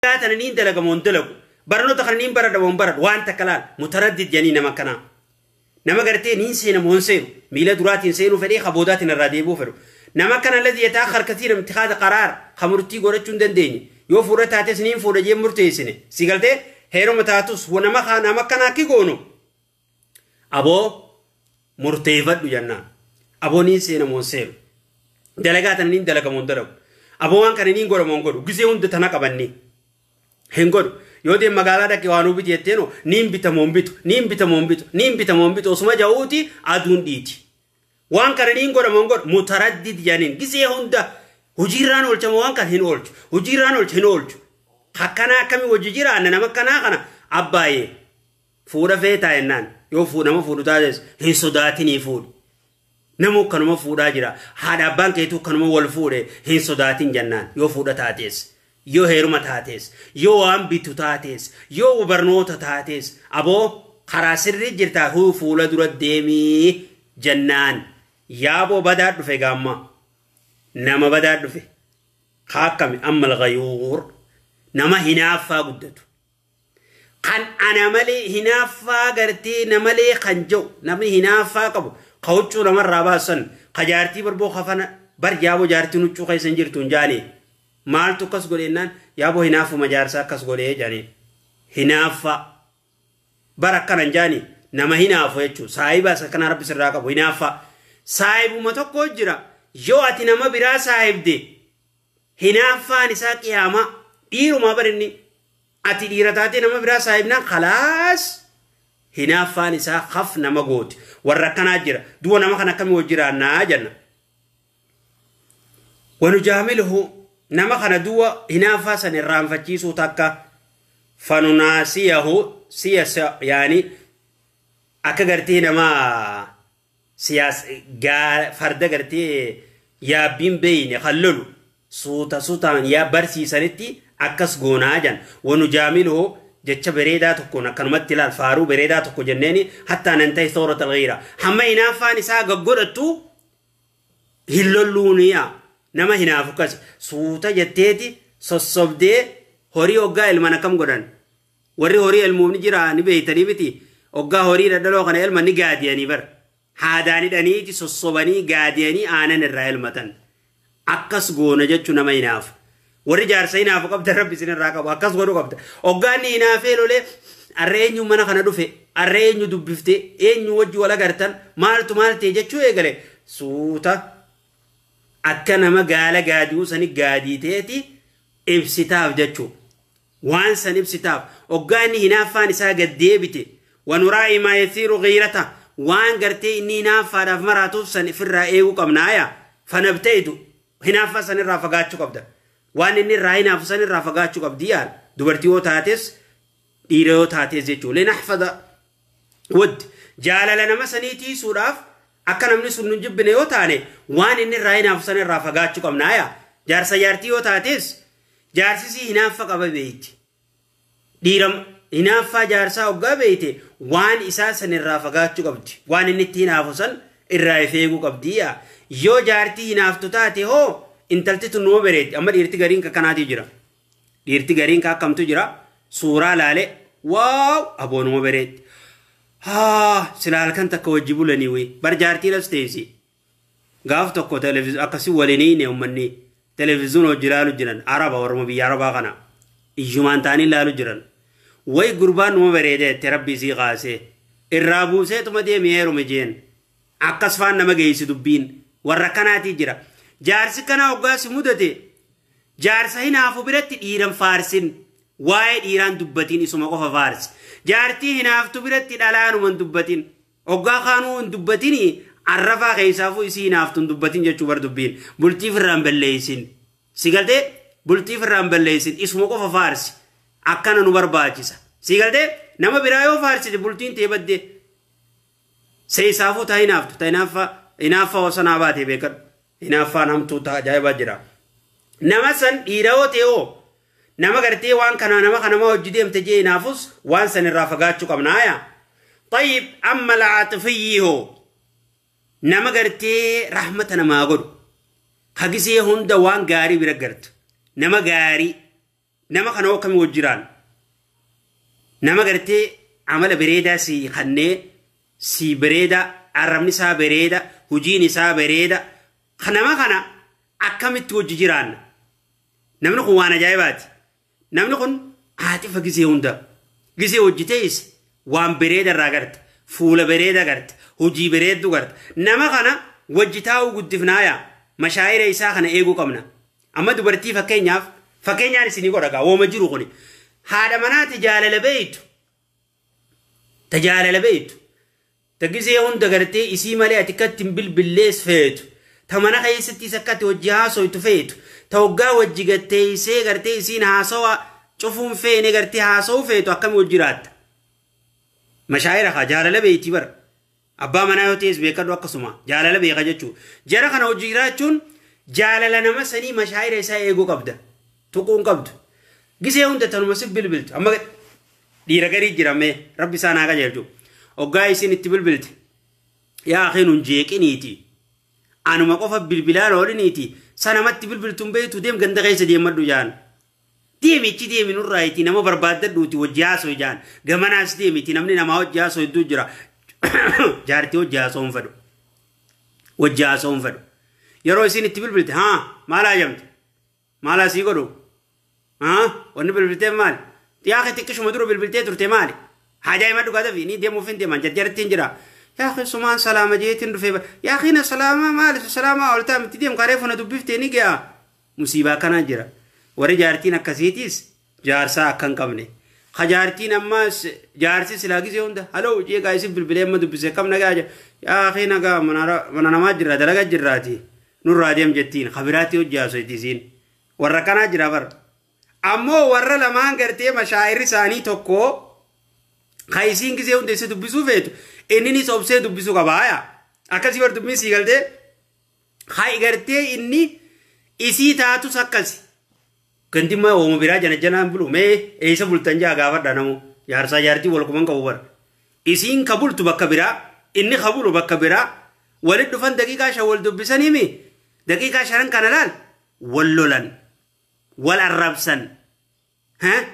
Yaa tana niin dalagama hin dalagu. Barnoota kana niin baradhama hin baradhu. Waan takka laal mutaraddid jedhanii nama kanaa. Nama gartee niin seenamu hin seenu. Miila duraatiin seenuu fedhee ka boodaatiin irraa deebi'uu fedhu. Nama kana ladii yataa harkatii namti haada qaraar ka murtii godhachuu hin dandeenye. Yoo fuudha taates niin fuudha jee murteessine. Si galtee heeruma taatus nama kaa nama kanaa ki goonu. Aboo murteeffadhu jannaan. Aboo niin seena moon seenu. Dalagaa tana niin dalaga moon dalagu. Aboo waan kana niin godha moon godhu. Gisee hunda tana qabanni. Hin godhu. Yoo deem magaalaa dhaqee waan hubiti jetteeno niin bita moon bitu. Niin bita moon bitu. Niin bita moon bitu. Osuma ja'uuti aduun dhiiti. Waan kana niin godha moon godhu. Mutaraddid janiin. Gisee hunda hojiirraan oolchama waan kana hin oolchu. Hojiirraan oolcha hin oolchu. Akkanaa akkamii wajji jiraanna nama akkanaa kana abbaayee. Fuudha feetaa jennaan yoo fuudha nama fuudhu taates hin sodaatinii fuudhi. Namuu kanuma fuudhaa jira. Haadha abbaan keetuu kanuma wal fuudhe hin sodaatin jennaan yoo fuudha taates. Yoo heeruma taates. Yoo waan bitu taates. Yoo barnoota taates. Aboo karaa sirrii jirtaa huu fuula dura deemii jennaan. Yaaboo badaa dhufe gaammaa. Nama badaa dhufe. Kaakkami ammal gayuur. Nama hinaaffaa guddatu. kan ana malee hinaaffaa gartee na malee kan ja'u namni hinaaffaa qabu ka huccuu namarraa baasan ka jaartii barboo kafana bar yaaboo jaartiin huccuu keessa hin jirtu hin jaane maaltu akkas godhe jennaan yaaboo hinaaffuma jaarsaa akkas godhe jedhani hinaaffaa bar akkana hin jaani nama hinaafu jechuun saahibaas akkanaa rabbi sirraa qabu hinaaffaa saahibuma tokko jira yoo ati nama biraa saahibde Hinaaffaan isaa qiyaamaa. Dhiirumaa bar inni. Ati dhiira taatee nama biraa saahibnaan khalaas hinaaffaan isaa haf nama gooti. Warra akkanaa jira. Duuba nama kana akkamii wajji jiraannaa jenna. Wanujaamiluhu nama kana duuba hinaaffaa san irraanfachiisuu takka fanunaasiyahu siyasa yaani akka gartee namaa siyaas gaa farda gartee yaabbiin beeyne kan lolu suuta suutaan yaa barsiisanitti akkas goonaa jan wanu jaamiluhu jecha bereedaa tokkoon akkanumatti ilaal faaruu bereedaa tokko jenneeni hattaa nan ta'e soorata alghiira hamma hinaaffaan isaa gaggodhattu hin lolluuniya nama hinaafu akkasi suuta jetteeti sossobdee horii hoggaa ilman akkam godhan Warri horii elmuuf ni jira ni beeytanii miti oggaa horii dhadhaloo kana elman ni gaadiyanii bar. Haadaan hidhaniiti sossobanii gaadiyanii aanan irraa elmatan. Akkas goona jechu nama hinaafu. Warri jaarsa hinaafu qabdan rabbi isin irraa qabu akkas godhu qabda. Oggaa inni hinaafee lolee arra eenyu mana kana dhufe arra eenyu dubbifte eenyu wajji wal agartan maaltu maal ta'e jechuu eegale suuta akka nama gaala gaadi'uu sani gaadiiteeti ibsitaaf jechuu. waan san ibsitaaf oggaa inni hinaaffaan isaa gad deebite wanuraa'i maa yathiiru ghiirata waan gartee inni hinaaffaadhaaf maraatuuf san ifirraa eeguu qabna aya fanabta'idu hinaaffaa san irraa fagaachuu qabda waan inni irraa hinaafu san irraa fagaachuu qabdi yaal dubartii yoo taates dhiira yoo taates jechuu linahfada Would, Jaalala nama sanii tiiysuudhaaf akka namni sun nun jibbine yoo taane waan inni irraa hinaafu san irraa fagaachu qabna aya jaarsa jaartii yoo taatees jaarsi isii hinaaffa qaba beeyti dhiira hinaaffaa jaarsaa oggaa beeyte waan isaa san irraa fagaachu qabdi waan inni itti hinaafu san irraa if eeguu qabdi yaa yoo jaartii hinaaftu taate hoo intalti tun numa bereeddi amma dhiirti gariin kakkanaatii jira Dhiirti gariin kaa akkamtu jira suuraa laale waaw aboonuma bereetti. Haa sila halkan takka wajji bulanii wii bar jaartiin as teessi. Gaaf tokko televiziyoon akkasi waliin ne uummanni televiziyoon hojii laalu jiran araba warruma biyya arabaa kana iyyumaan ta'anii laalu jiran. Wayi gurbaan numa bareedeette rabbi isii kaasee irraa buuseetuma deemi heerume jeen. Akkas faan nama geessi dubbiin warra kanaatii jira. Jaarsi kanaa hoggaasi mudate Jaarsa hinaafu biratti dhiiran faarsin. Waa'ee dhiiraan dubbatiin isuma qofa faarsi. Jaartii hinaaftu biratti dhalaanuma hin dubbatin. Oggaa kaanuu hin dubbatini arrafaa keessaafuu isii hinaaftu hin dubbatin jechuu bar dubbiin. Bultii firraa hin balleessin. Si galtee? Bultii firraa hin balleessin. Isuma qofa faarsi. Akkana nu barbaachisa. Si galtee? Nama biraa yoo faarsite bultiin tee badde. Seeysaafuu taa hinaaftu ta inaaffaa inaaffaa osa naa baatee beekadhu. Inaaffaan hamtuu taa ajaa'ibaa jira. Nama san dhiira yoo ta'e hoo nama gartee waan kanaa nama kanamaa hojii deemte jee inaafus waan san irraa fagaachuu qabna haya. Tayyib amma la'aaxifiyyii hoo nama gartee rahmata namaa godhu. Hagisee hunda waan gaarii bira gartu. Nama gaarii. Nama kana hoo akkami wajji jiraanna? Nama gartee amala bereedaa sii kannee sii bereedaa arrabni isaa bereeda hujiin isaa bereeda ka nama kana akkamitti wajji jiraanna? Namni kun waan ajaa'ibaati. Namni kun haatifa gisee hunda gisee wajji teeyse waan bereeda irraa garte fuula bereeda garte hojii bereeddu garte nama kana wajji taa'uu guddifnaayaa mashaayira isaa kana eeguu qabna. Amma dubartii fakkeenyaaf fakkeenyaan isinii godha gaa wooma jiru kuni. Haadha manaa ta jaalala beeytu. Ta jaalala beeytu. Ta gisee hunda gartee isii malee ati akkatti hin bilbillees feetu. Ta mana keessattis akkatti wajji haasoytu feetu. Ta waggaa wajji gatteessee gartee isiin haasawa cufuun feene gartee haasawuu feetu akkami wajji jiraatta. Mashaayira kaa jaalala beeyti bara. Abbaa manaa yoo ta'es beekadhu akkasuma jaalala beeka jechuu. Jara kana hojii jiraachuun jaalala nama sanii mashaayira isaa eeguu qabda. Tuquun qabdu. Gisee hunda tanuma sif bilbiltu. Amma dhiira garii jira mee rabbi isaan haa qajeelchu. Oggaa isin itti bilbilte. Yaa akii nun jeeqiniiti. Anuma qofa bilbilaan ooliniiti. Sanamatti bilbiltuun beektu deem ganda keessa deemadhu jaan. Deemi itti deemi nurraa itti nama barbaaddadhuuti wajji haasoo jaan gamanaas deemi itti namni namaa wajji haasoo hedduu jira jaartii wajji haasoo hin fedhu wajji haasoo hin fedhu yeroo isin itti bilbilte haa maal haajamte maalaa sii godhu haa wanni bilbilteef maali yaa kee xiqqishuma dura bilbiltee turte maali haajaa hima dhugaa dafi ni deemuuf hin deeman jarjarattiin jira yaa kee sumaan salaama jeetiin dhufee yaa kiina salaamaa maali salaamaa oltaa mitti deem karee funa dubbiftee ni ga'a Musiibaa akkanaa jira. Warri jaartiin akkasiitiis jaarsaa akka hin qabne. Ka jaartiin ammaas jaarsi silaa gisee hunda haloo jee gaa isin bilbilee amma dubbise kam nagaa jira. Yaa kee nagaa mana namaa jirra dalagaa jirraati. Nurraa deem jettiin ka biraatti hojii haasoyti isiin. Warra akkanaa jira bar. Ammoo warra lamaan gartee mashaayirri isaanii tokko ka isiin gisee hunda isa dubbisuu feetu inninis obsee dubbisuu qaba. Akkasii bar dubbiin sii galtee. Hay gartee inni isii taatus akkasi. Gandimmaa wooma biraa janajjanaan bulu mee eeysa bultan jaa gaafadha namu jaarsaa jaartii wal quban qabu bar. Isiin ka bultu bakka biraa inni ka bulu bakka biraa walit dhufan daqiiqaa shan wal dubbisanii mi daqiiqaa shanan kana laal wal lolan wal arrabsan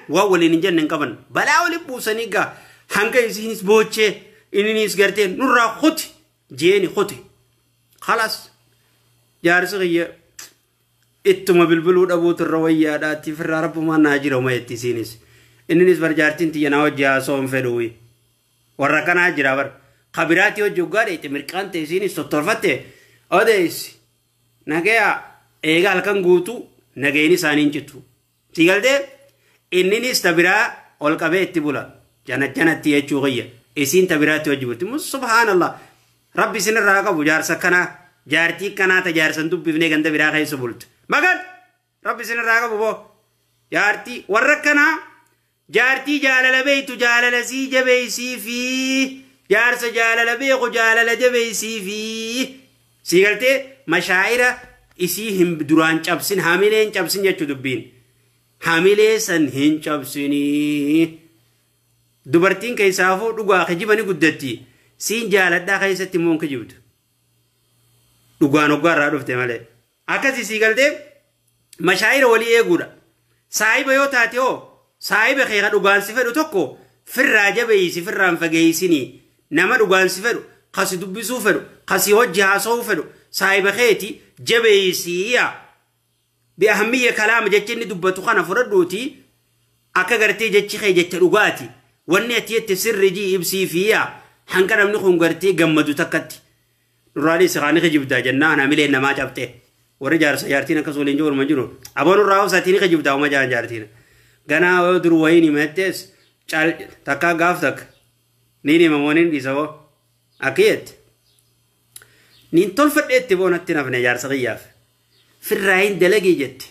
Waan waliin hin jenne hin qaban. Balaa waliin buusanii gaa hanga isiinis boochee inninis gartee nurraa kuti jeeni kuti. Kalas jaarsi kiyya ittuma bilbiluu dhabuutu irra wayyaadha itti firraa rabbumaan naa jira uma itti isiinis. Inninis bar jaartiin tiyya naa wajji haasoo hin fedhuuyi. Warra kanaa jira bar. Kabiraatii hojii hoggaa dheeyte mirqaan ta'e isiinis tottolfatte odeessi. Nagayaa eegaa halkan guutuu nagayni isaanii hin citu. Si galtee? Inninis ta biraa ol qabee itti bula. Janajjanatti jechuu kiyya. Isiin ta biraatti wajji bulti. Mus- Subhaanallah. Rabbi isinirraa haa qabu jaarsa akkanaa. Jaartii akkanaa ta jaarsa hin dubbifnee ganda biraa keessa bultu. Magan! Rabbi isinirraa haa qabu boo. Jaartii warra akkanaa Jaartii jaalala beektu jaalala sii jabeessiifi. Jaarsa jaalala beeku jaalala jabeessiifi. Sii galtee mashaa'ira isii hin duraan cabsin hamilee hin cabsin jechu dubbiin. Hamilee san hin cabsinii. Dubartiin keessaafuu dhugaa kijiba ni guddatti. Siin jaaladhaa keessatti immoo hin kijibdu. Dhugaan hoggaa irraa dhufte malee. Akkasii sii galtee mashaayira walii eeguudha. Saahiba yoo taate hoo saahiba kee ka dhugaan si fedhu tokko firraa jabeeysi firraan fageeysinii nama dhugaan si fedhu ka si dubbisuu fedhu ka si hojji haasa'uu fedhu saahiba keeti jabeeysii yaa. Bi'ahammiyya kalaama jecha inni dubbatu kana fudhadhuuti akka gartee jechi kee jecha dhugaati. Wanni ati jette sirri jii ibsiifii yaa hanqa namni kun gartee gammadu takkatti. Duraalee si kaani kijibdaa jennaan hamileen namaa cabxee. Warri jaarsa jaartiin akkas waliin jiru orma jiru. Aboo nurraa obsatii ni kijibdaa homa jaan jaartiin. Ganaa yoo dur wayii ni mettees cal takkaa gaaf takka. Niin hima waniin dhiisa hoo. Akkiyetti. Niin tolfadheetti boonatti nafne jaarsa kiyyaaf. Firraayin dalagii jetti.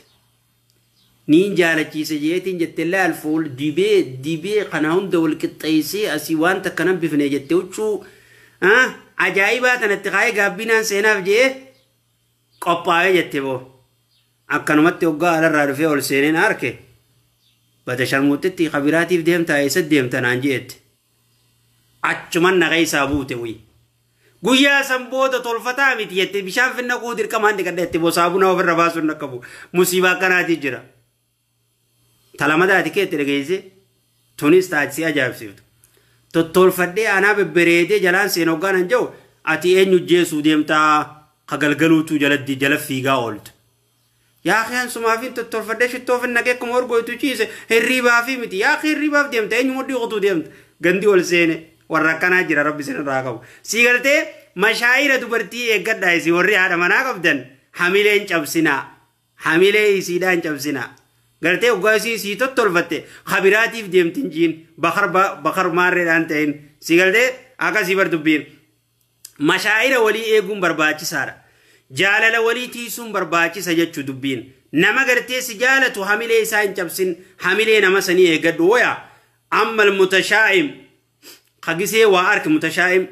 Niin jaalachiisa jeetiin jette laal fool dibee dibee kana hunda wal qixxeessee asii waan takka nan bifne jette huccuu ah, ajaa'ibaa tanatti kaa'ee gaabbinaan seenaaf je'ee qophaa'ee jette boo. Akkanumatti hoggaa alarraa dhufee ol seeneen arke bada sharmuuxxitti kabiraatiif deemtaa eessa deemta naan je'ette. Achuman na keessaa buute wayii. Guyyaa san booda tolfataa miti jette bishaan finna kuu dirqamaan dhiqadha jette boo saabunaa ofirra baasuun dhaqqabu musiibaa akkanaatii jira. Talamadaa ati keetti dhageessee tunis taati si ajaa'ibsiiftu. Tottolfadhee anaa bebbereedee jalaan seen hoggaan an ja'u ati eenyu jeesuu deemtaa ka galgaluutuu jalatti jala fiigaa ooltu. Yaa akhi an sumaafin tottolfadhee shittoofin naqee akkuma urgooytu ciise hirriibaafii miti. Yaa akhi hirriibaaf deemta eenyu mudhii kutuu deemta. Gandi ol seene warra akkanaa jira rabbi isin irraa qabu. Sii galtee mashaayira dubartii eeggadhaa isin warri haadha manaa qabdan hamilee hin cabsinaa. Hamilee isiidhaa hin cabsinaa. Galtee oggaa isiin sii tottolfatte kabiraatiif deemti hin jiin bakar ba- bakar maarreedhaan ta'in. Sii galtee akkasii bar dubbiin. Mashaa'ira walii eeguun barbaachisaadha. Jaalala walii tiisuun barbaachisa jechu dubbiin. Nama gartee si jaalatu hamilee isaa hin cabsin hamilee nama sanii eegadhu woya. Amma mutashaa'im ka gisee waa arke mutashaa'im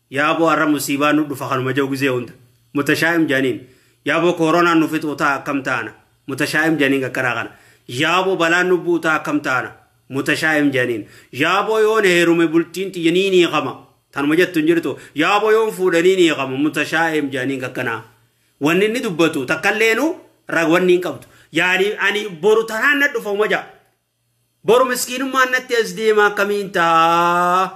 yaaboo arra musiibaa nu dhufa kanuma jau gisee hunda. Mutashaa'im janiin yaaboo kooronaan nu fixuu ta'a akkam taana. Mutashaa'im janiin qaqqaraa kana. Yaaboo balaan nu bu'u ta'a akkam taana. Mutashaa'im janiin yaaboo yoon heerume bultiin xiyya nii nii qama. Tanuma jettu hin jirtu. Yaaboo yoon fuudhanii ni hiikamu mutashaa'im jedhaniin kakkanaa. Wanni inni dubbatu takkalleenu ra- wanni hin qabdu. Yaani ani boru tanaan na dhufa uma ja'a. Boru miskiinummaan natti as deema akkamiin ta'a?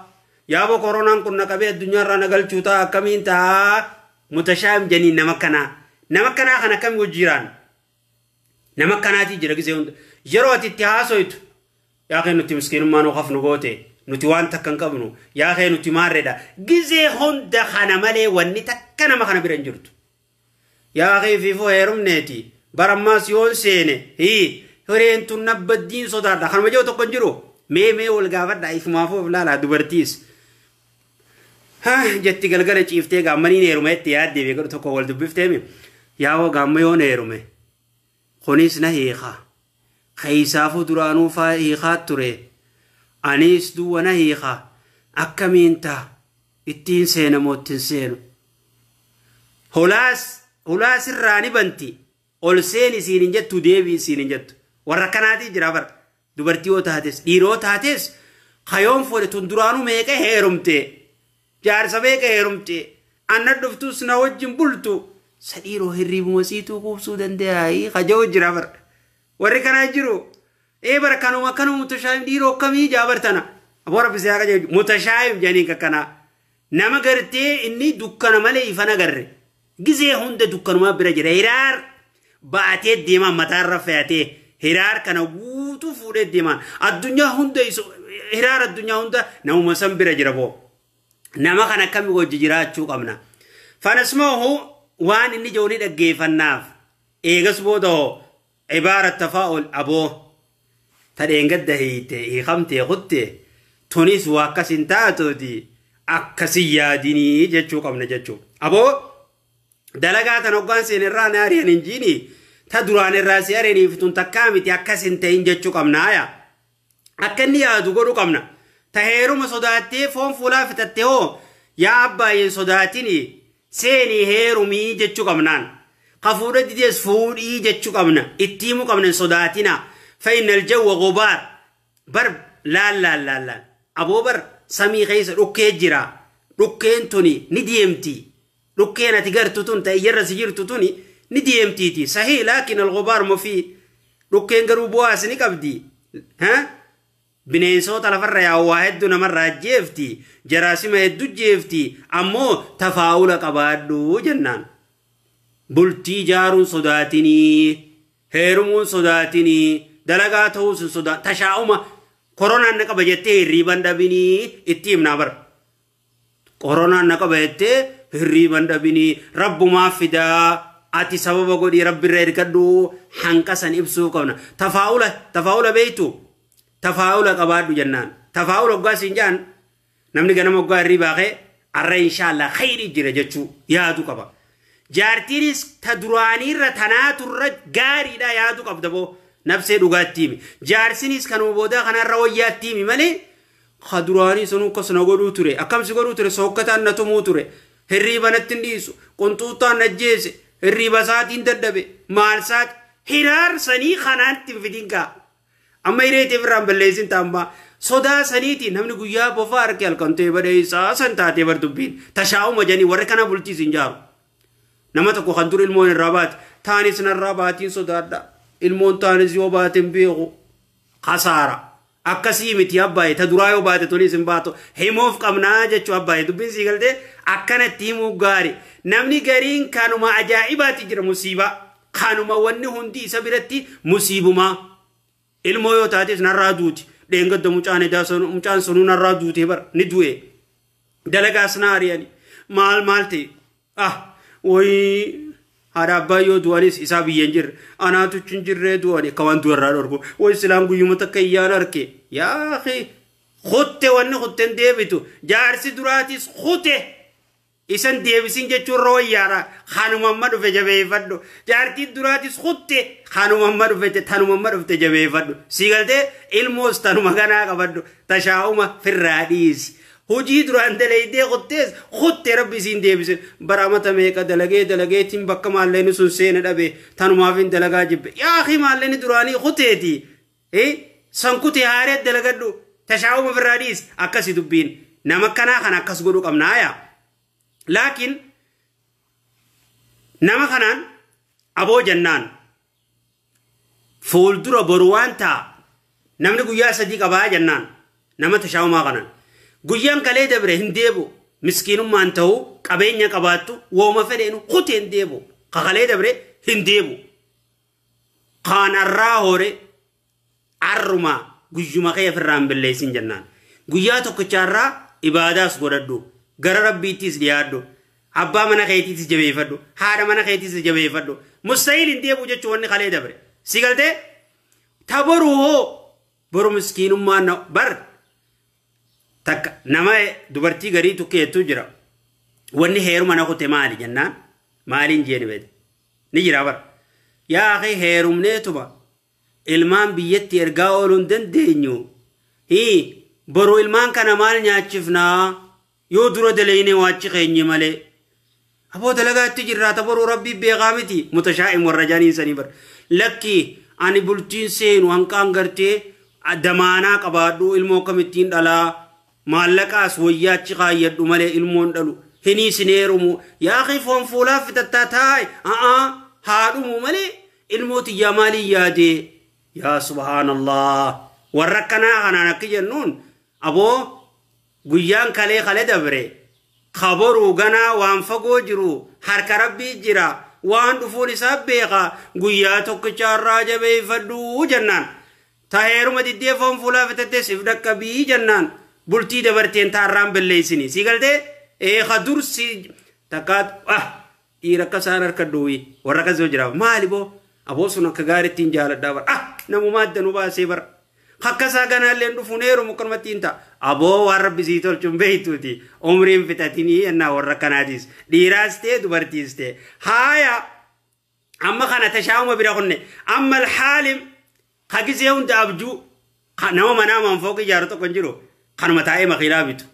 Yaaboo koronaan kun na qabee addunyaarraa na galchuu ta'a akkamiin ta'a? Mutashaa'im jedhaniin nama kanaa. Nama kanaa kan akkami wajjiiraan? Nama akkanaatii jira gisee hunda. Yeroo ati itti haasoytu yaa kee nuti miskiinummaa nu kaf nu goote nuti waan takka hin qabnu yaa kee nuti maarredha gisee hunda kana malee wanni takka nama kana bira hin jirtu. Yaa kee fiifuu heerumneeti bara ammaas yoon seene hii hireen tun nabbaddiin sodaadha kanuma jiru tokko hin jiru mee mee wal gaafadha ifumaafuu of laalaa dubartiis. Ha jetti galgala ciiftee gaammanii ni heeruma jetti yaaddi beekadhu tokko wal dubbifteemi. Yaawoo gaamma yoo na heerume kunis na hiika. Keessaafuu duraanuu faa hiikaa ture. Anis duwwa na hiika. Akkamiin ta'a? Ittiin seena moo ittiin seenu? Holaas holaas irraa ni banti. Ol seeni siin hin jettu deebi'i siin hin jettu. Warra akkanaatii jira bara. Dubartii yoo taates dhiira yoo taates kayoon fuudhe tun duraanuu meeqa heerumte jaarsa meeqa heerumte anna dhuftus na wajjin bultu sa dhiiroo hirriibuma siituu kuubsuu danda'aayii kaja'u jira bar warri kanaa jiru ee bar kanuma kanuma mutashaayim dhiiroo akkamii jaa bar tana aboo rabbi si haa qajeelchu mutashaayim janiin kakkanaa Nama gartee inni dukkana malee ifa hin agarre. Gizee hunda dukkanumaa bira jira. Hiraar baatee deemaa mataarra fe'atee hiraar kana guutuu fuudhee deemaa. Addunyaa hunda isu hiraar addunyaa hunda namuma san bira jira boo. Nama kana akkami wajji jiraachuu qabna. Fanasmaahu waan inni jedhu ni dhaggeeffannaaf. Eegas booda hoo Ibaara tafaa'ul aboo ta dheengadda hiite hiikamtee kutte tunis waa akkas hin taatuuti akkasi yaadinii jechuu qabna jechuu. Aboo dalagaa tan hoggaan seen irraa na ari'an hin jiini ta duraan irraa si ari'aniif tun takkaa miti akkas hin ta'in jechuu qabna yaa. akka inni yaadu godhu qabna. Ta heeruma sodaattee foon fuulaa fixatte hoo yaa abbaayyeen sodaatini seenii heerumii jechuu qabnaan. Ka fuudha didees fuudhii jechuu qabna. Itti himuu qabna hin sodaatina. Fa'innal jawwa gobaar. Bar laal laal laal laal. Aboo bar samii keessa dhukkee jira. Dhukkeen tuni ni deemti. Dhukkeen ati gartu tun ta iyyarra si jirtu tuni ni deemtiiti. Sahii laakin al-ghubaar mufii. Dhukkeen garuu bu'aas ni qabdi. Ha? Bineensoota lafarra yaa'u waa hedduu namarra ajjeefti. Jaraasima hedduu jeefti. Ammoo tafaa'ula qabaadhu jennaan. Bultii jaaruun sodaatinii. Heerumuun sodaatinii. Dalagaa ta'uus hin sodaa. Tashaa'uma koronaan na qaba jettee hirriiban dhabinii itti himnaa bara. Qoronaan na qaba jettee hirriiban dhabinii rabbumaa fidaa ati sababa godhii rabbirra ergadhuu hanqasan ibsuu qabna tafaa'ula tafaa'ula beektu tafaa'ula qabaadhu jennaan tafaa'ula oggaa siin jaan namni ganama oggaa hirriibaa kee arra inshaallah khayrii jira jechuu yaadu qaba jaartiinis ta duraaniirra tanaaturra gaariidha yaadu qabda boo nabsee dhugaattiimi jaarsinis kanuma boodaa kanarra wayyaattiimi malee Ka duraanii sanuu akkas na godhuu ture. Akkam si godhuu ture? Sookkataan na tumuu ture. Hirriiba natti hin dhiisu. Qunxuuxxaan na ajjeese. Hirriiba isaatiin dadhabe. Maal isaati? Hiraar sanii kanaan itti hin fidin kaa. Amma hiree teef irraan balleessin taammaa. Sodaa saniitiin namni guyyaa bofaa arke halkan ta'e badhee isaa san taatee bar dubbiin. Tashaa'uma jedhanii warri kana bultii isin jaaru. Nama tokko kan dur ilmoon irraa baate. Taanis narraa baatiin sodaadha. Ilmoon taanis yoo baate hin beeku. kasaara akkasii miti abbaaye ta duraa yoo baate tuniis hin baatu himuuf qabnaa jechuu abbaaye dubbiin sii galtee akkanatti himuu gaari namni gariin kanuma ajaa'ibaatti jira musiibaa kanuma wanni hundi isa biratti musiibumaa ilmoo yoo taates narraa duuti dheengadda mucaan edaa sun- mucaan sunuu narraa duutee bar ni du'e dalagaas na ari'ani maal maal ta'e Ah, woyii haadha abbaa yoo du'anis isaa biyya hin jirre anaatu hin jirree du'ani akka waan du'arraa dhorku woyi silaan guyyuma takka iyyaan arke yaa kee kutte wanni kutten deebitu jaarsi duraatis kute isan deebisin jechuun irra wayyaara kanuma amma dhufe jabeeffadhu jaartiin duraatis kutte kanuma amma dhufete tanuma amma dhufte jabeeffadhu sii galtee ilmoos tanuma ganaa qabadhu tashaa'uma firraa dhiisi Hojii duraan dalaydee kuttees kutte rabbi isiin deebise bara amata meeqa dalagee dalageetiin bakka maalleeni sun seena dhabe tanumaafin dalagaa jibbe yaa akii maalleeni duraanii kuteeti san kute haaree dalagadhu tashaa'uma ofirraa dhiis akkasi dubbiin nama akkanaa kana akkas godhu qabnaa yaa laakiin nama kanaan aboo jannaan Fuuldura boru waan ta'a. Namni guyyaa sadii qabaa jennaan nama tashaa'umaa kanan. Guyyaan kalee dabre hin deebi'u. Miskiinummaan ta'uu qabeenya qabaattu wooma fedheenu kutee hin deebi'u. Ka kalee dabre hin deebi'u. Kaan arraa hore Arruma guyyuma kee ofirraa hin balleessin jennaan. Guyyaa tokkicha irraa ibaadaas godhadhu. Gara Rabbiittis dhiyaadhu. Abbaa mana keetiitis jabeeffadhu. Haadha mana keetiitis jabeeffadhu. Mustahiil hin deebi'u jechuun wanni kalee dabre. Si galtee? Ta boru hoo boru miskiinummaa na bar takka nama dubartii garii tukkee jettuu jira. Wanni heeruma na kute maali jennaan maaliin jeeni beekte. Ni jira bara. Yaa akhi heerumneetuma ilmaan biyyatti ergaa ooluu hin dandeenyu. Hii, boru ilmaan kana maal nyaachifnaa? Yoo dura dalaynee waachi keenye malee. Aboo dalagaatti jirraa ta boruu rabbii beekaa miti. Mutashaa'im warra jaaniin sanii bar. Lakki ani bultiin seenu hanqaan gartee damaanaa qabaadhu ilmoo akkamittiin dhalaa? Maallaqaas woyyaa achi kaayyadhu malee ilmoo hin dhalu. Hinii sin heerumu. Yaa akhi foon fuulaaf fixattaa taa'e. A'aa haa dhumu malee ilmoo tiyyaa maaliin yaadee? Yaa subhaanallah. Warra akkanaa kanaan akki jennuun aboo guyyaan kalee kale dabre kaboruu ganaa waan fagoo jiru harka rabbii jira waan dhufuun isaa beeka guyyaa tokkicha irraa jabeeffadhu jennaan. Ta heeruma diddee foon fuulaa fitattee sif dhaqqabii jannaan bultii dabarteen ta arraan belleessini. Sii galtee? Ee ka dur si takkaa ah dhiira akka isaan harka duwii warra akkas yoo jiraaf maali boo aboo sun akka gaariitti hin jaaladhaa bara ah namumaa adda nu baasee bara. Akka isaa ganaallee hin dhufuun heerumu akkanumatti hin ta'a. Aboo waan rabbi sii tolchu hin beektuuti umriin fitatinii yennaa warra akkanaatiis dhiiraas ta'e dubartiis ta'e haaya amma kana tashaa'uma bira kunne amma alhaalim ka gisee hunda abjuu ka nama manaa manfooq ijaaru tokko hin jiru kanuma taa'ee makiinaa bitu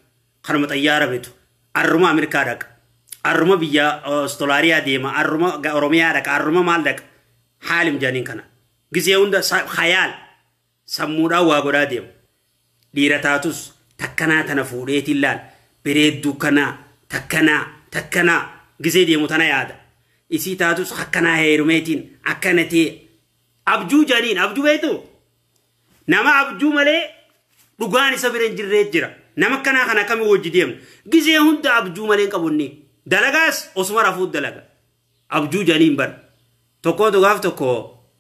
kanuma xayyaara bitu arruma ameerikaa dhaqa arruma biyya ostolaariyaa deema arruma oromiyaa dhaqa arruma maal dhaqa haalim jedhaniin kana gisee hunda hayaal Sammuudhaan waa godhaa deema. Dhiira taatus takkanaa tana fuudheetiin laal bereedduu kanaa takkanaa takkanaa gisee deemu tana yaada. Isii taatus akkanaa heerumeetiin akkana tee abjuu janiin abjuu beektu nama abjuu malee dhugaan isa bira hin jirree jira. Nama akkanaa kana akkamii wajji deemna. Gisee hunda abjuu malee hin qabu inni. Dalagaas osuma rafuu dalaga. abjuu janiin bar tokkootu gaaf tokko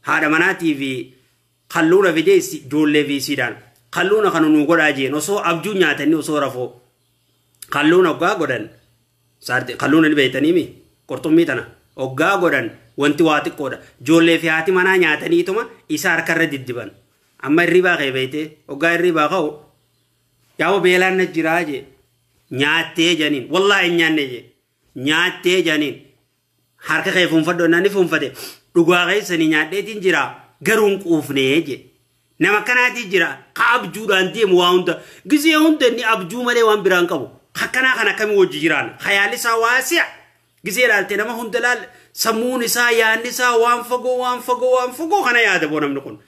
haadha manaatii fi kalluuna fidee issi- ijoollee fi isiidhaan kalluuna kana nuu godhaa jeen osoo abjuu nyaatanii osoo rafoo kalluuna oggaa godhan saarti kalluuna ni beeytanii mi qurxummii tana oggaa godhan wanti waa xiqqoodha ijoollee fi haati manaa nyaataniituma isa harkarra diddiban amma hirribaa kee beeytee oggaa hirribaa ka'u yaa'u beelaan na jiraa jee nyaattee janiin wallaahi hin nyaanne jee nyaattee jaaniin harka kee fuunfadhu jennaan ni fuunfate dhugaa keessanii nyaadheetiin jira garuu hin quufnee jedhe nama akkanaatii jira ka abjuudhaan deemu waa hunda gizee hunda inni abjuu malee waan biraan qabu akkanaa kan akkamii wajji jiraan hayaalli isaa waasi'a gizee ilaalte nama hunda laal sammuun isaa yaanni isaa waan fagoo waan fagoo waan fagoo kana yaada boo namni kun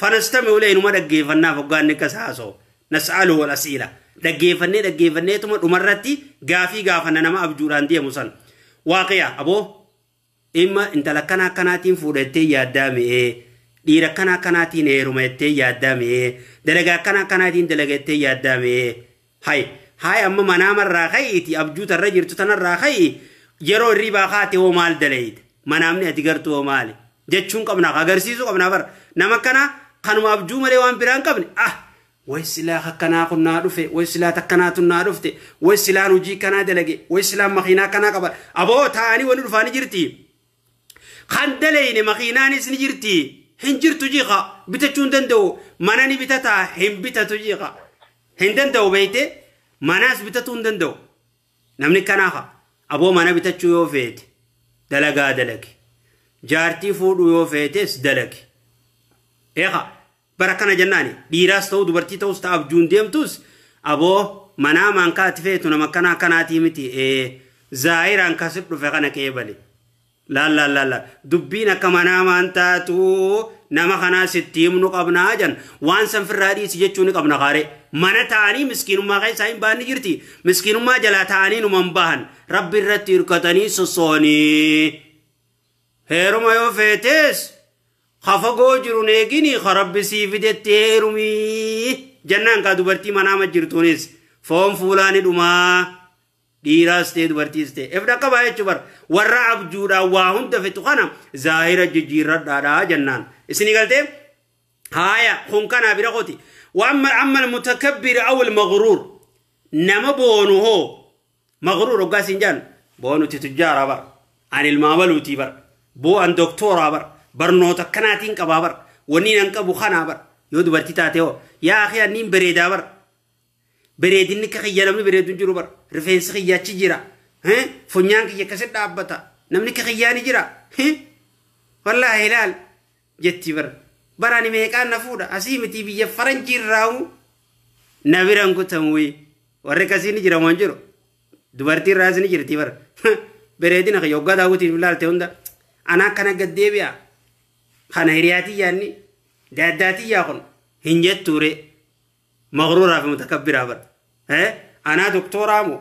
fanastame ulee inuma dhaggeeffannaaf hoggaanni akka isaa haasoo Nas'aluhu wal as'iila. Dhaggeeffannee dhaggeeffanneetuma dhumarratti gaafii gaafanna nama abjuudhaan deemu san. Waaqiya aboo imma intala akkana akkanaatiin fuudha jettee yaaddaa mi'ee dhiira akkana akkanaatiin heeruma jettee yaaddaa mi'ee dalagaa akkana akkanaatiin dalaga jettee yaaddaa mi'ee hay hay amma manaamarraa ka'iiti abjuu tarra jirtu tanarraa ka'i yeroo hirribaa kaate hoo maal dalayita manaamni ati gartuu hoo maali jechuun qabna agarsiisuu qabna bar nama akkanaa kanuma abjuu malee waan biraa hin qabne ah way silaa akkanaa kun naa dhufe way silaa takkanaa tun naa dhufte way silaan hojii kanaa dalage way silaan makiinaa kanaa qaba aboo taa'anii wanni dhufaa ni jirti kan dalayne makiinaanis ni jirti hin jirtu jiqa bitachuu hin danda'u mana ni bitataa hin bitatu jiqa hin danda'u beeyte manaas bitatuu hin danda'u Namni kanaa ka aboo mana bitachuu yoo feete dalagaa dalagi. Jaartii fuudhuu yoo feetes dalagi. Eeka bara kana jennaani dhiiraas ta'uu dubartii ta'us ta abjuun deemtus aboo manaa maankaa ati feetu nama kanaa kanaatii miti ee zaayiraan kasi dhufe kana qeebali. Laal laal laal laal dubbiin akka manaa maan taatu nama kanaa sitti himnu qabnaa jan waan san firraa dhiisi jechuu ni qabna kaaree mana ta'anii miskiinummaa keessaa hin bahan ni jirti miskiinummaa jalaa ta'anii numa hin bahan rabbi irratti hirkatanii sossoonii heeruma yoo feetees ka fagoo jiru neegini ka rabbi sii fidetti heerumii jannaan kaa dubartii manaama jirtuunis foon fuulaa ni dhumaa Dhiiraas ta'e dubartiis ta'e if dhaqqabaa jechuun bara warra abjuudhaan waa hunda fixu kana zaahira jijjiirradhaadhaa jennaan. Isinii galtee? Haaya kun kanaa bira kooti. Waamma amma mutakabbir awil maghruur nama boonu hoo maghruur hoggaa siin jaan boonuti tujjaaraa bara an ilmaa baluutii bara boo an doktooraa bara barnoota akkanaatiin qabaa bara wanni nan qabu kanaa bara yoo dubartii taate hoo yaa akhi anniin bareedaa bara Bareedinni akka kiyya namni bareedu hin jiru bara. Rifeensi kiyya achi jira. Eh? Funyaan kiyya akkasi dhaabbata. Namni akka kiyyaa ni jira. Eh? Wallaahi ilaal jetti bara. Bara ani meeqaan na fuudha. Asii miti biyya faranjii irraahu na biraan kutamuyi. Warri akkasii ni jira moo hin jiru. Dubartii irraas ni jirti bara. Bareedina kiyya hoggaa daawwitiif ilaalte hunda. Anaa akkana gad deebi'a. Kana hiriyaatii yaanni. Daaddaatii yaa kun. Hin jettuuree. Maqruuraa fi mutakabbiraa bar. Eh? Anaa doktooraa moo?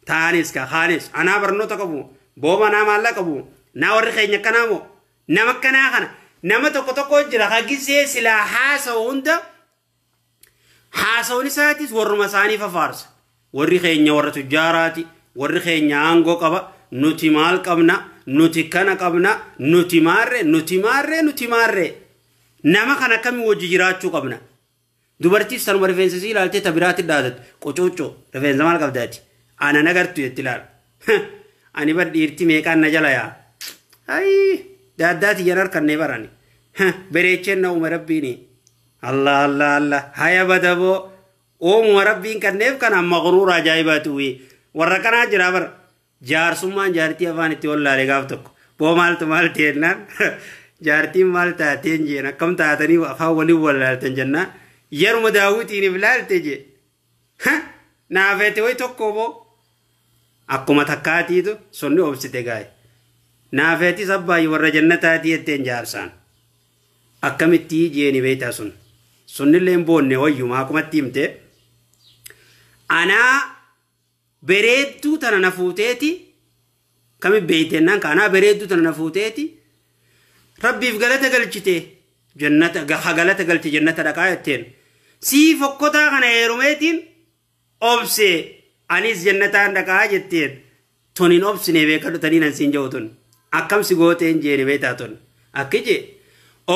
Taanis kaa kaanis. Anaa barnoota qabu moo? Booba anaa maallaa qabu moo? Naa warri keenya akkanaa moo? Nama akkanaa kana. Nama tokko tokko jira ka gisee silaa haasa'u hunda haasawni isaatis warruma isaanii fafaarsa. Warri keenya warra tujjaaraati. Warri keenya aangoo qaba. Nuti maal qabna? Nuti kana qabna. Nuti maarree? Nuti maarree? Nuti maarree? Nama kana akkamiin wajji jiraachuu qabna? Dubartiis tanuma rifeensa isii ilaaltee ta biraatti dhaadatu qocooccoo rifeensa maal qabda ati aanan agartu jetti laal ani bar dhiirti meeqaan na jala yaa ayii daaddaa tiyyan harkannee barani bereecheen na uume rabbiini allah allah allah haya badaboo uumuma rabbiin kanneef kana maqruura ajaa'ibaati wii warra kanaa jira bara Jaarsummaan jaartii afaan itti wallaale gaaf tokko. Boo maaltu maal ta'e jennaan jaartiin maal taateen jeen akkam taatanii afaan waliin wallaaltan jennaan yeruma daawwitiiniif laalte jee. Ha! Naafeete wayi tokko boo. Akkuma takkaatiitu sunni obsite gaaye. Naafeetis abbaayyi warra jannataatii jetteen jaarsaan. Akkamittii jeeni beektaa sun. Sunnillee hin boonne wayyuma akkumatti himte. Anaa bereedduu tana na fuuteeti kami beeytennaan kaanaa bereedduu tana na fuuteeti rabbiif galata galchite jannata ha galata galche jannata dhaqaa jetteen sii fokkotaa kana heerumeetiin obse anis jannataan dhaqaa jetteen tun hin obsine beekadhu tanii nan siin ja'u tun akkam si gooteen jeeni beeytaa tun akki jee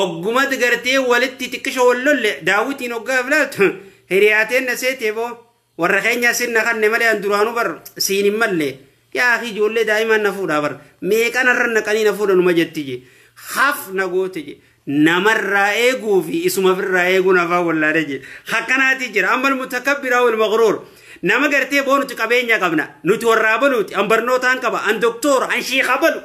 oggumatti gartee walitti xiqqisho wal lolle daawwitiin oggaaf laaltu hiriyaateen na seetee boo Warra keenya sin na kanne malee an duraanuu bar siin hin malle. Yaa akii ijoollee daa'imaan na fuudhaa bar. Meeqan irra naqanii na fuudha numa jetti je. Haf na goote je. Namarraa eeguu fi isuma birraa eeguun afaan wallaale je. Hakkanaati jira. Ammal mutakabbiraa wal maqruur. Nama gartee boo nuti qabeenya qabna. Nuti warraa baluuti. An barnootaan qaba. An doktoora. An shiika balu.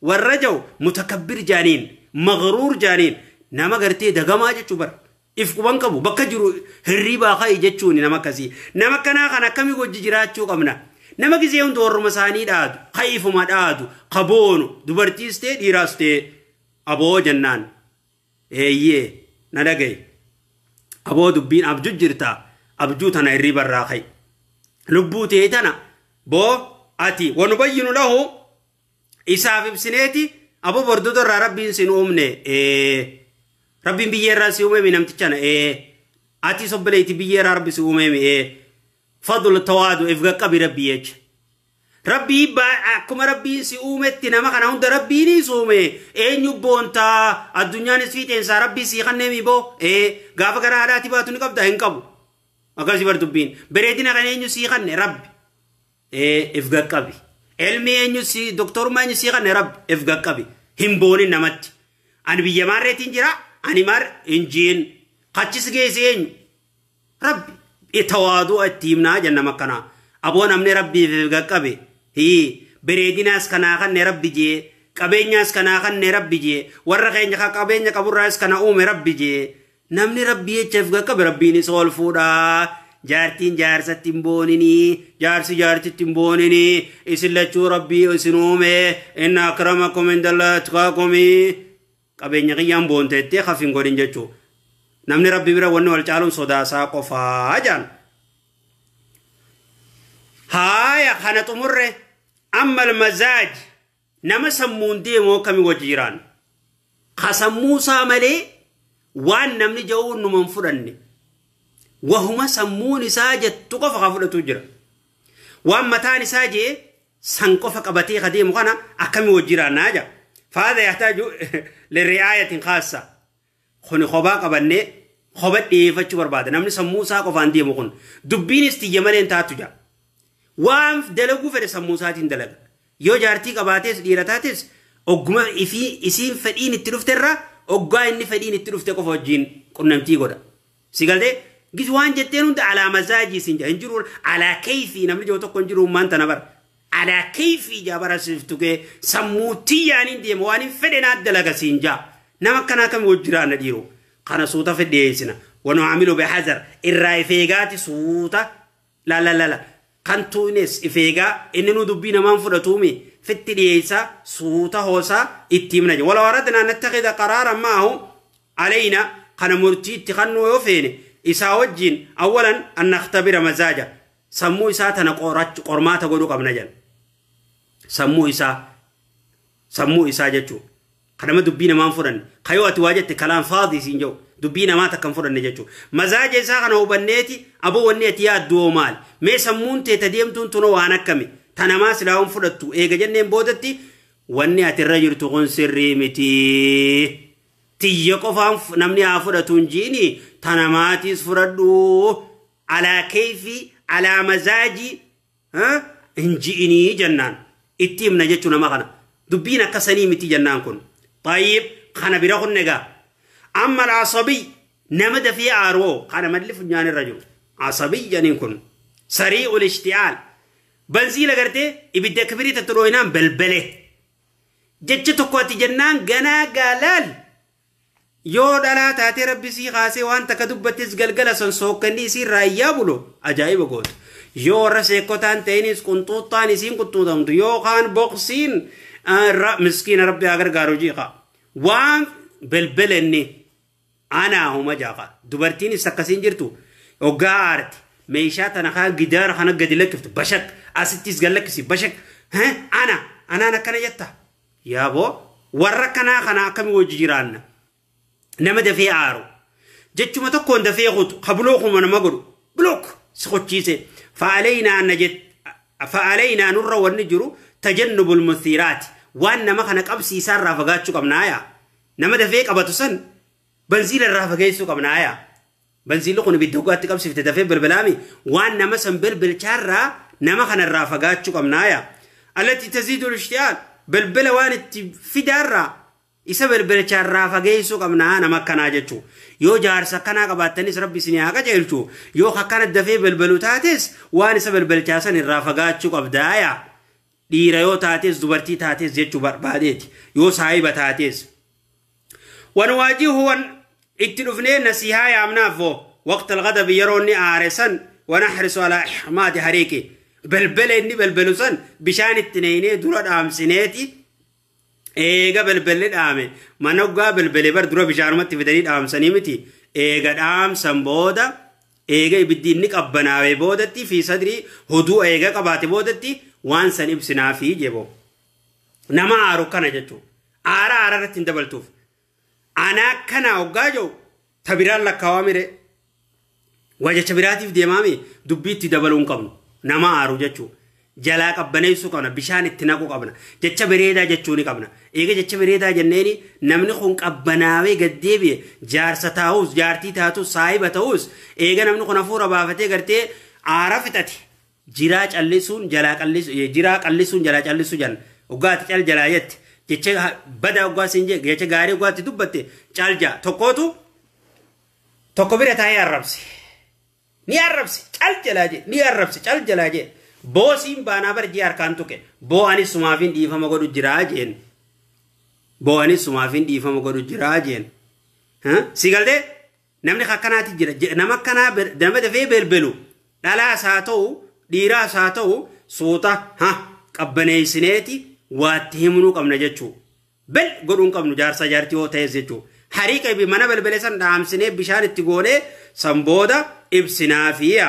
Warra jau mutakabbir jaaniin. Maqruur jaaniin. Nama gartee dagamaa jechuu bara. if quban qabu bakka jiru hirriibaa ka'i jechuun nama akkasii nama akkanaa kan akkami wajji jiraachuu qabna nama gisee hundi warruma isaanii dhaadu ka ifuma dhaadu ka boonu dubartiis ta'e dhiiraas ta'e aboo jennaan eeyyee na dhaga'i aboo dubbiin abjuu jirta abjuu tana hirriiba irraa ka'i lubbuu ta'e tana boo ati wanu bayyinu lahu isaaf ibsineeti abo bordodo irraa rabbiin sin uumne ee rabbiin biyyee irraa si uumeemi namtichana ee ati sobbaleeti biyyee irraa rabbi si uumeemi ee fadlu tawaadu if gaqqabi rabbii jecha rabbii baa- akkuma rabbiin si uumetti nama kana hunda rabbiinis uume eenyu boontaa addunyaanis fiixeensaa rabbii sii kanneemi boo ee gaafa gara haadhaati baatu ni qabda hin qabu akkasii bar dubbiin bareedina kan eenyu sii kanne rabbi ee if gaqqabi elmi eenyu si doktorummaa eenyu si kanne rabbi if gaqqabi hin booni namatti ani biyya maarreetiin jira ani maar hin jiin kachis geesi eenyu rabbi tawaaduu itti himnaa jennam akkanaa aboo namni rabbiif if gaqqabi hii bereedinaas kanaa kanne rabbi jee qabeenyaas kanaa kanne rabbi jee warra keenya ka qabeenya qaburraas kana uume rabbi jee Namni rabbii jecha if qaqqabe rabbiinis ol fuudha. Jaartiin jaarsatti hin boonini. Jaarsi jaartitti hin boonini. Isin lachuu rabbii isin uume. Inna akramakum indallah atqaakumi. Qabeenya kiyyaan boonteettee kaf hin godhin jechuu. Namni rabbi bira wanni wal caaluun sodaasaa qofaa jaan. Haaya kana xumurre ammal mazaaj. Nama sammuun deemoo kami wajji jiraanna. Ka sammuu isaa malee waan namni ja'uun numa hin fudhanne. Wahuma sammuun isaa jettu qofa ka fudhatu jira. Waan mataan isaa jee san qofa qabatee ka deemu kana akkami wajji jiraannaa jaa. Faada yahtaaju lirri'aayatin kaassa. Kuni kophaa qabannee kopha dhiyeeffachuu barbaada. Namni sammuu isaa qofaan deemu kun dubbiinis tiyya malee hin taatu jaa. Waan dalaguu fedhe sammuu isaatiin dalaga. Yoo jaartii qabaates dhiira taates ogguma isiin fedhiin itti dhufte irraa oggaa inni fedhiin itti dhufte qofa wajjin qunnamtii godha. Si galtee? Gis waan jetteen hunda alaa mazaajii siin jaa hin jiru alaa keeyfii namni jiru tokko hin jiru ummaan tana bara. Alaa keeyfii jaa bara siif tugee sammuu tiyyaan hin deema waan hin fedhe naa dalaga siin jaa. Nama akkanaa kami wajji jiraanna dhiiroo. Kana suuta fedhi dhiyeessina. Wanu amilu bihazar irraa if eegaati suuta lalalala. Kan tuunes if eegaa inni nu dubbii namaan fudhatuumi fitti dhiyeessaa suuta hoosaa itti himna. Wala waradnaa nattakhidha qaraaran ma'ahu علينا kana murtii itti kannuu yoo feene isaa wajjiin awwalan an nakhtabira mazaaja sammuu isaa tana qorachu qormaata godhu qabna jedha sammuu isaa sammuu isaa jechuu kanama dubbii namaan fudhanne kayoo ati waa jette kalaan faadii siin jedhu dubbii namaa takkan fudhanne jechuu mazaaja isaa kana hubanneeti aboo wanni ati yaaddu hoo maali mee sammuun tee ta deemtuun tunoo waan akkami ta namaa silaawan fudhattu eega jenneen boodatti wanni ati irra jirtu kun sirrii mitii tiyya qofaan namni haa fudhatu hin jiini tana maatiis fudhadhu alaa keeyfi alaa mazaajii hin ji'inii jennaan itti himna jechuu nama kana dubbiin akka sanii miti jennaan kun tayyib kana bira kun egaa amma alaasabii nama dafee aaroo kana malli funyaan irra jiru asabii janiin kun sarii ol ishti'aal banzii lagartee ibidda kibiriitti dhooyinaan belbele jecha tokko ati jennaan ganaa gaalaal yoo dhalaa taatee rabbi sii kaasee waan takka dubbattes galgala san sookkanni isiin raayyaa bulo ajaa'iba gootu yoo warra seekkotaan ta'iniis qunxuuxxaan isiin qunxuuxamtu yookaan boqsiin miskiina rabbi haa gargaaru jiiqa waan belbelenni Anaa homa jaaqa. Dubartiin ibsa akkasiin jirtu oggaa aarti. Meeshaa tana kaa gidaara kana gadi lakkiftu bashak. Asittis gad lakkisi bashak. Hee ana anaan akkana jetta. Yaaboo warra kanaa kana akkami wajji jiraanna. Nama dafee aaru. Jechuma tokkoon dafee kutu ka bulookuma nama godhu. Bulook si kochiise. Fa'aleynaa na jette. Fa'aleynaa nurra wanni jiru tajannubul musiiraati. Waan nama kana qabsiisaarraa fagaachuu qabnaa yaa. Nama dafee qabatu san bansiila irraa fageessuu qabna aya. Bansiilli kun ibidda dhugaatti qabsifte dafee bilbilaami waan nama san bilbilchaarraa nama kanarraa fagaachuu qabna aya. Allatti taziidul ishtiyaal bilbila waan itti fidaarraa isa bilbilchaarraa fageessuu qabna nama akkanaa jechuu. Yoo jaarsa akkanaa qabaattanis rabbi isin haa qajeelchu yoo akkana dafee bilbilu taates waan isa bilbilchaa san irraa fagaachuu qabda aya. Dhiira yoo taatees dubartii taatees jechuu barbaadeeti. Yoo saahiba taatees. Wan waajihu wan itti dhufnee nasihaa yaamnaaf hoo waqta alghadabi yeroo inni aare san wan ahrisu alaa ihmaadi hariiqi belbela inni belbelu san bishaan itti neeynee dura dhaamsineeti Eega belbelle dhaame mana oggaa belbele bar dura bishaanumatti fidanii dhaamsanii miti eega dhaamsan booda eega ibiddi inni qabbanaawee boodatti fi sadrii hoduu eega qabaate boodatti waan san ibsinaa fi jeboo. Nama aaru kana jechuun aara aara irratti hin dabaltuuf. Anaa akkanaa hoggaa jedhu ta biraan lakkaawame ree? Waa jecha biraatiif deemaami dubbii itti dabaluu hin qabnu. Nama aaru jechuu. Jalaa qabbaneessuu qabna bishaan itti naquu qabna. Jecha bereedaa jechuu ni qabna. Eega jecha bereedaa jenneeni namni kun qabbanaawee gad deebi'e jaarsa taa'us jaartii taatus saahiba ta'us eega namni kun hafuura baafatee gartee aara fixate jiraa callisuun jalaa qallisu jiraa qallisuun jalaa callisu jan oggaati cal jalaa jette jecha bada oggaa siin jee jecha gaarii oggaatti dubbatte cal jaa tokkootu tokko bira taa'ee arrabse ni arrabse cal jalaa jee ni arrabse cal jalaa jee boosiin baanaa bar jee harkaan tuqe boo anis sumaafiin dhiifama godhu jiraa jeen boo anis sumaafiin dhiifama godhu jiraa jeen si galtee Namni akkanaati jira. Nama akkanaa nama dafee belbelu dhalaas haa ta'u dhiiraas haa ta'u suuta ha qabbaneessineeti waatti himnuu qabna jechuu. Bel godhuun qabnu jaarsaa jaartii yoo ta'es jechuu. Harii qabi mana belbele san dhaamsinee bishaan itti goonee san booda ibsinaafiya.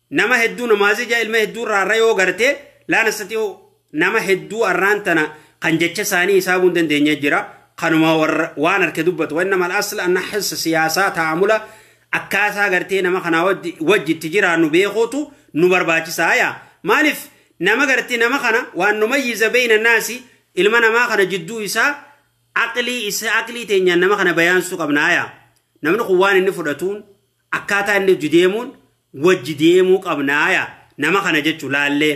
Nama hedduu namaazii jaa ilma hedduu irraa irra yoo garte laa nastati'u nama hedduu arraan tana kan jecha isaanii hisaabuu hin dandeenye jira. Kanuma warra- waan harke dubbatu. Wanna mal asla anna hissa siyaasaa taa'amula akkaataa gartee nama kanaa wajji wajji itti jiraannu beekuutu nu barbaachisaa yaa. Maaliif nama gartee nama kana waan nu mayyiza beeyna naasi ilma namaa kana jidduu isaa aqlii isa aqlii teenyaan nama kana bayaansuu qabnaa yaa. Namni kun waan inni fudhatuun Akkaataa inni hojji deemuun wajji deemuu qabnaa yaa nama kana jechu laallee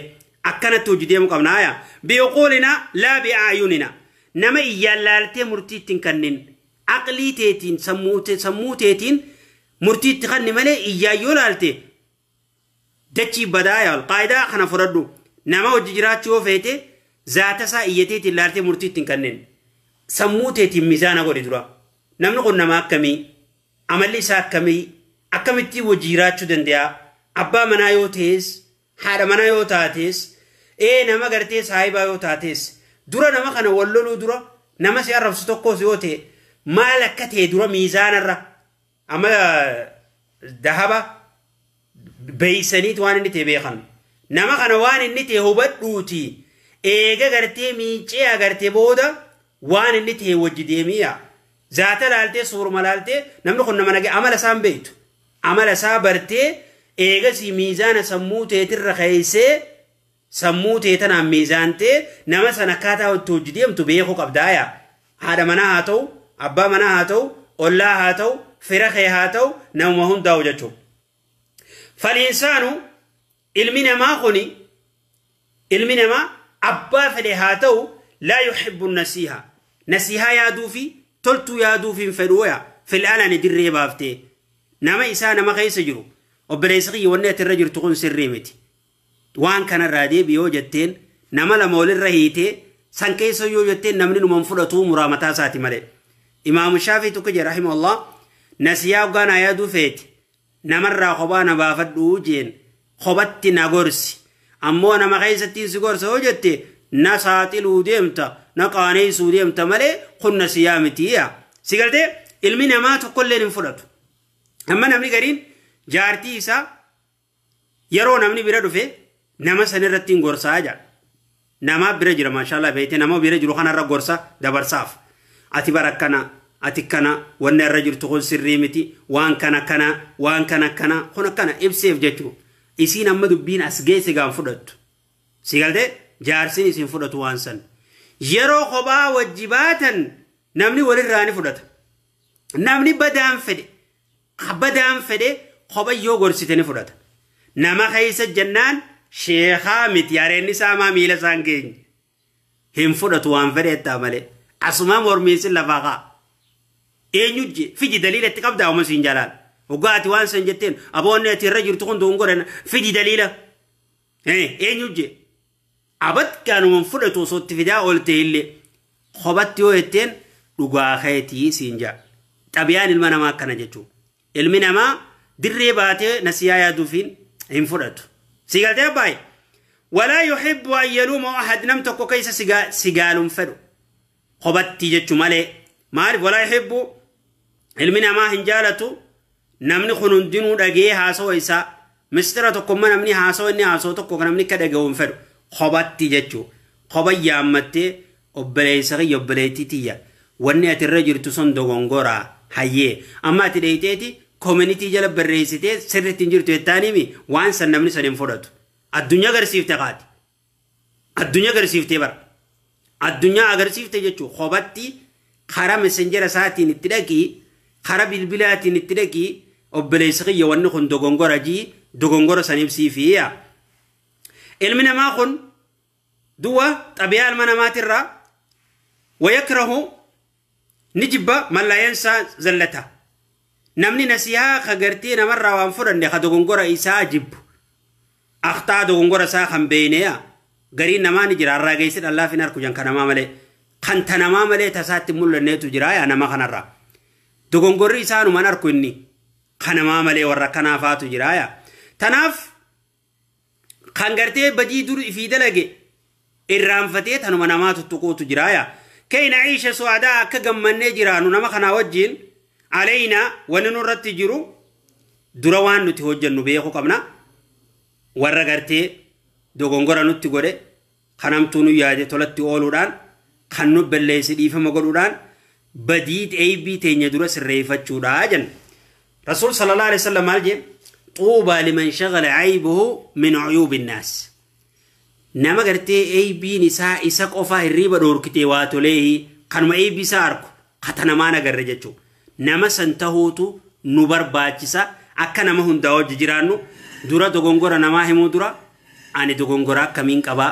akkanatti hojji deemuu qabnaa yaa bi'uquulinaa laa bi'aayuninaa nama iyyaan laaltee murtii ittiin kannin aqlii teetiin sammuu teetiin murtii itti kanni malee iyyaan yoo laalte dachii badaa yaa qaayidaa kana fudhadhu nama hojji jiraachuu yoo feete zaata isaa iyya teetiin laaltee murtii ittiin kannin sammuu teetiin mizaana godhi dura namni kun nama akkamii Amalli isaa akkamii? Akkamittiin wajji jiraachuu dande'a? Abbaa manaa yoo ta'es, haadha manaa yoo taates, ee nama gartee saahibaa yoo taates, dura nama kana wal loluu dura nama si arrabsu tokkos yoo ta'e maal akka ta'e dura miizaanarra amma dahaba beeysaniiti waan inni ta'e beekan nama kana waan inni ta'e hubadhuuti eega gartee miincee agarte booda waan inni ta'e wajji deemiya zaata laaltee suuruma laaltee namni kun nama nagee amala isaan beeytu amala isaa bartee eegasii miizaana sammuu teetirra keeysee Sammuu tee tanaan miizaantee nama san akkaataa itti hojji deemtu beekuu qabdaa yaa haadha manaa haa ta'u, abbaa manaa haa ta'u, ollaa haa ta'u, fira kee haa ta'u namuma hundaa'u jechuu. Faliinsaanu ilmi namaa kuni ilmi namaa abbaa fedhe haa ta'u laa yuhibbu nasiihaa. Nasiihaa yaaduu fi toltuu yaaduu fi hin fedhuu yaa fil alani dirree baaftee nama isaa nama keessa jiru obboleessa kiyya wanni ati irra jirtu kun sirrii miti. Waan kanarraa deebi yoo jetteen nama lama walirra hiitee san keessa yoo jetteen namni numa hin fudhatuu muraa mataa isaati malee. Imaamu Shaafii tokko jedhe rahimahullah nasiyaa hoggaa naa yaaduu feete namarraa kophaa na baafadhu jeen kophatti na gorsi ammoo nama keessattiin si gorsa yoo jette na saaxiluu deemta na qaaneessuu deemta malee kun nasiyaa miti yaa. Si galtee ilmi namaa tokkolleen hin fudhatu. Amma namni gariin jaartii isaa Yeroo namni bira dhufe nama san irratti hin gorsaa jedha. Namaa bira jira maashaallah beeyte nama bira jiru kanarra gorsa dabarsaaf. Ati bara akkana ati kana wanni irra jirtu kun sirrii miti waan kana kana waan kana kana kun akkana ibseef jechuu. Isiin amma dubbiin as geesse gaan fudhattu. Si galtee jaarsiin isin fudhatu waan san. Yeroo kophaa wajji baatan namni walirraa ni fudhata. Namni badaan fedhe Kabadaan fedhe kopha yoo gorsite ni fudhata. Nama keessa jennaan sheekaa miti hareen isaa maa miila isaan geenye. Hin fudhatu waan fedhe ittaa malee. Asumaa mormiin sin lafaa kaa. Eenyu je fidi daliila itti qabdaa uma siin jalaan. Hoggaa ati waan san jetteen aboonni ati irra jirtu kun duun godhan fidi daliila. Eenyu je. Abadgaanuman fudhatu osoo itti fidaa ooltee illee kobatti yoo jetteen dhugaa keetii siin jaa. Xabiyaan ilma namaa akkana jechuu. Ilmi namaa dirree baatee nasiyaa yaaduufiin hin fudhatu. Sii galtee abbaayi? Walaa yuhibbu an yaluuma ahad nam tokko keessa si gaalun fedhu. kobattii jechu malee maaliif walaa yuhibbu ilmi namaa hin jaalatu namni kun hundinuu dhagee haasawa isaa mistira tokkomma namni haasawa inni haasawa tokko kan namni akka dhagahu hin fedhu kobatti jechuu koba yaammattee obboleessa kiyya obboleettii tiyya wanni ati irra jirtu sun dogongoraa hayyee amma ati dheeyxeeti koominitii jala barreessitee sirriitti hin jirtu jettaaniimi waan san namni san hin fudhatu addunyaa garsiifte kaati Addunyaa agarsiiftee bara. Addunyaa agarsiifte jechuun kophaatti karaa messenjera isaatiin itti dhaqii karaa bilbilaatiin itti dhaqii obboleessi kiyya wanni kun dogongora jii dogongora san ibsiifi yaa. Ilmi namaa kun du'a xabiyaa ilma namaatirraa wayakrahu Ni jibba mallayensaa zallata. Namni nasihaa ka gartee namarraa waan fudhanne ka dogongora isaa jibbu. Akhtaa dogongora isaa kan beeyneya. Gariin namaa ni jira arraageessi dhallaaf hin arku jan kanamaa malee. Kan tanamaa malee tasaatti hin mul'anneetu jira yaa nama kanarraa. Dogongorri isaanuman arku inni. Kanamaa malee warra kanaa faatu jira yaa. Tanaaf kan gartee badii dur ifii dalage irraanfatee tanuma namaa tuttuquutu jira yaa kay na'iisha su'adaa akka gammannee jiraanu nama kanaa wajjiin aleynaa wanni nurratti jiru dura waan nuti hojjennu beekuu qabna warra gartee dogongora nutti godhe Kan hamtuu nu yaade tolatti ooluudhaan, kan nu belleesse dhiifama godhuudhaan, badii eeybii teenya dura sirreeyfachuudha jenna. Rasuul sallallahu alaihi wasallam maal jee? Xuubaa liman shagala aybuhu min uyuubi nnaas. Nama gartee eeybiin isaa isa qofaa hirriiba dhoorkitee waa toleehi kanuma eeybii isaa arku katanamaan agarre jechuu nama san tahuutu nu barbaachisa akka nama hundaa wajji jiraannu dura dogongora namaa himuu dura ani dogongora akkamiin qabaa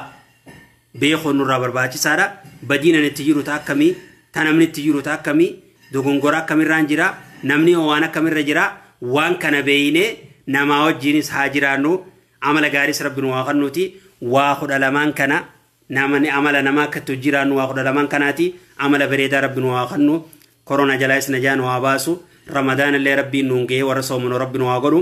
beekuun nurraa barbaachisaadha badiin ani itti jiru ta akkamii ta namni itti jiru ta akkamii dogongora akkamirraan jira namni hoo waan akkamirra jira waan kana beeynee namaa wajjiinis haa jiraannu amala gaariis rabbi nu waa kannuuti waa kudha lamaan kana Namani amala nama akka itti hojjii raannu waa kudha lamaan kanaati amala bereedaa rabbi nu haa kannu korona jalaayis najaa nu haa baasu ramadaana illee rabbiin nuun gahee warra soomanu rabbi nu haa godhu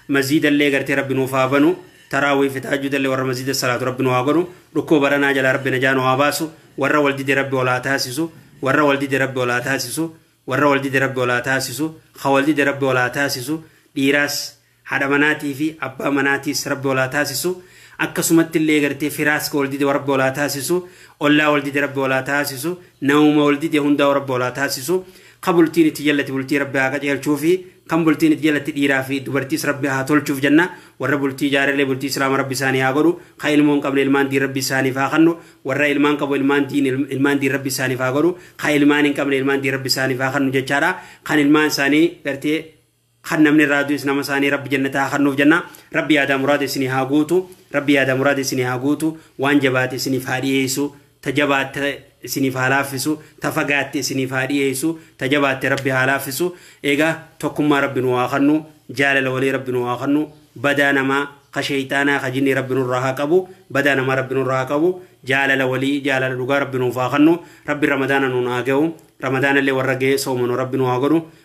maziida illee gartee rabbi nuuf haa banu taraawii fi tahajjuda illee warra maziida salaatu rabbi nu haa godhu dhukkuba baranaa jalaa rabbi najaa nu haa baasu warra wal dide rabbi ol haa taasisu warra wal dide rabbi ol haa taasisu warra wal dide rabbi ol haa taasisu ha wal dide rabbi ol haa taasisu dhiiraas Haadha manaatii fi abbaa manaatiis Rabbi ol haa taasisu. Akkasumatti illee gartee firaas ka wal dide Rabbi ol haa taasisu. Ollaa wal dide Rabbi ol haa taasisu. Namuma wal dide hundaa'u Rabbi ol haa taasisu. Ka bultiin itti jallate bultii Rabbi haa qajeelchuufi. Kan bultiin itti jalatte dhiiraa fi dubartiis Rabbi haa tolchuuf jenna. Warra bultii ijaarellee bultii Islaama Rabbi isaanii haa godhu. Ka ilmoo hin qabne ilmaan diin Rabbi isaaniif haa kannu. Warra ilmaan qabu ilmaan diin ilmaan diin Rabbi isaaniif haa godhu. Ka ilmaan hin qabne ilmaan diin Rabbi isaaniif haa kannu jechaadha. Kan ilmaan isaanii gartee kan namni irraa du'es nama isaanii rabbi jannataa haa kennuuf jenna rabbi yaadaa muraada isinii haa guutu rabbi yaadaa muraada isinii haa guutu waan jabaate isiniif haa dhiyeessu ta jabaatte isiniif haa laaffisu ta fagaatte isiniif haa dhiyeessu ta jabaatte rabbi haa laaffisu egaa tokkummaa rabbi nu haa kennu jaalala walii rabbi nu haa kennu badaa namaa ka sheeyxaanaa ka jinnii rabbi nurraa haa qabu badaa namaa rabbi nurraa haa qabu jaalala walii jaalala dhugaa rabbi nuuf haa kennu rabbi ramadaana nuun haa ga'u ramadaana illee warra ga'ee soomanu rabbi nu haa godhu